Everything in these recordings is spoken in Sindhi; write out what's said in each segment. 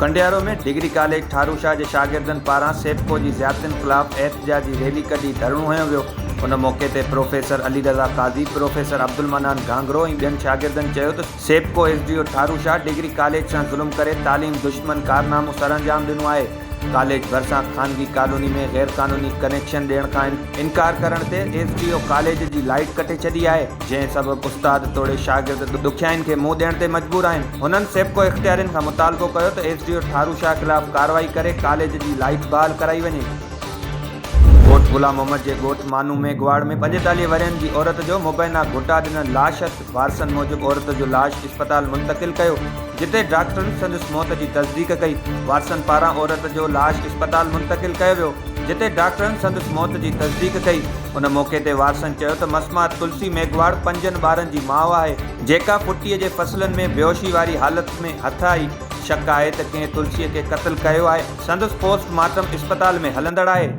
ڪنڊيارو ۾ ڊگري ڪاليج ٺاروشاه جي شاگردن پاران سيپڪو جي زيادتين خلاف احتجاجي ريلي ڪڍي ڌرڻو هنيو ويو ان موقعي تي پروفيسر علي رضا قاضي پروفيسر عبدالمنان گهانگهرو ۽ ٻين شاگردن چيو ته SEPCO S D O Tharo Shah degree college سان ظلم ڪري تعليم دشمن ڪارنامو سرانجام ڏنو آهي، ڪاليج ڀرسان خانگي ڪالوني ۾ غيرقانوني ڪنيڪشن ڏيڻ کان انڪار ڪرڻ تي ايس ڊي او ڪاليج جي لائيٽ ڪٽي ڇڏي آهي، جنهن سبب استاد توڙي شاگرد ڏکيائين کي منهن ڏيڻ تي مجبور آهن، هنن سيپڪو اختيارين کان مطالبو ڪيو ته S D O Tharo Shah خلاف ڪارروائي ڪري ڪاليج جي لائيٽ بحال ڪرائي وڃي. ڳوٺ غلام محمد جي ڳوٺ مانو ميگهواڙ ۾ پنجيتاليهه ورهين جي عورت جو مبينا گهٽا ڏنل لاش هٿ وارثن موجب عورت جو لاش اسپتال منتقل ڪيو جتي ڊاڪٽرن سندس موت جي تصديق ڪئي وارثن پاران عورت جو لاش اسپتال منتقل ڪيو ويو جتي ڊاڪٽرن سندس موت جي تصديق ڪئي ان موقعي تي وارثن چيو ته مسمات تلسي ميگهواڙ پنجن ٻارن جي ماء آهي جيڪا پٽي جي فصلن ۾ بيهوشي واري حالت ۾ هٿ آئي شڪ آهي ته ڪنهن تلسي کي قتل ڪيو آهي. سندس پوسٽ مارٽم اسپتال ۾ هلندڙ آهي.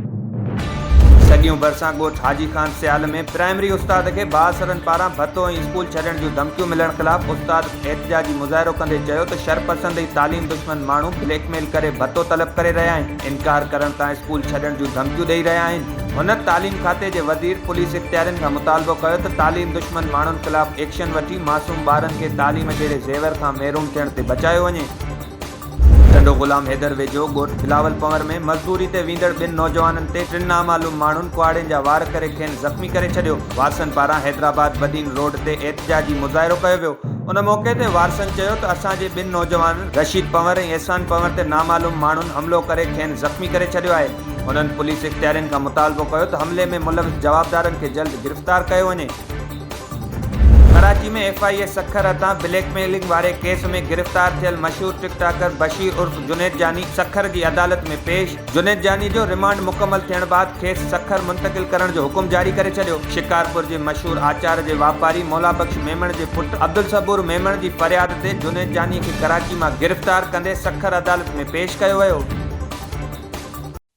سڳيون ڀرسان ڳوٺ حاجي خان سيال ۾ پرائمري استاد کي بااثرن پاران ڀتو ۽ اسڪول ڇڏڻ جون ڌمڪيون ملڻ خلاف استاد احتجاجي مظاهرو ڪندي چيو ته شرپسند ۽ تعليم دشمن ماڻهو بليڪ ميل ڪري ڀتو طلب ڪري رهيا آهن انڪار ڪرڻ تان اسڪول ڇڏڻ جون ڌمڪيون ڏئي رهيا آهن. هن تعليم کاتي جي وزير پوليس اختيارين کان مطالبو ڪيو ته تعليم دشمن ماڻهن خلاف ايڪشن وٺي معصوم ٻارن کي تعليم جهڙي زيور کان محروم ٿيڻ تي بچايو وڃي. ٽنڊو غلام حيدر ويجهو ڳوٺ بلاول پنور ۾ مزدوري تي ويندڙ ٻن نوجوانن تي ٽن نامعلوم ماڻهن ڪهاڙين جا وار ڪري کين زخمي ڪري ڇڏيو، وارثن پاران حيدرآباد بدين روڊ تي احتجاجي مظاهرو ڪيو ويو، ان موقعي تي وارثن چيو ته اسان جي ٻن نوجوانن رشيد پنور ۽ احسان پنور تي نامعلوم ماڻهن حملو ڪري کين زخمي ڪري ڇڏيو آهي، هنن پوليس اختيارين کان مطالبو ڪيو ته حملي ۾ ملوث جوابدارن کي جلد گرفتار ڪيو وڃي. ڪراچي ۾ ايف آء اي سکر هٿان بليڪ ميلنگ واري ڪيس ۾ گرفتار ٿيل مشهور ٽڪ ٽاڪر بشير عرف جنيد جاني سکر جي عدالت ۾ پيش، جنيد جاني جو رمانڊ مڪمل ٿيڻ بعد کيس سکر منتقل ڪرڻ جو حڪم جاري ڪري ڇڏيو، شڪارپور جي مشهور آچار جي واپاري مولا بخش ميمڻ جي پٽ عبدالصبور ميمڻ جي فرياد تي جنيد جاني کي ڪراچي مان گرفتار ڪندي سکر عدالت ۾ پيش ڪيو ويو.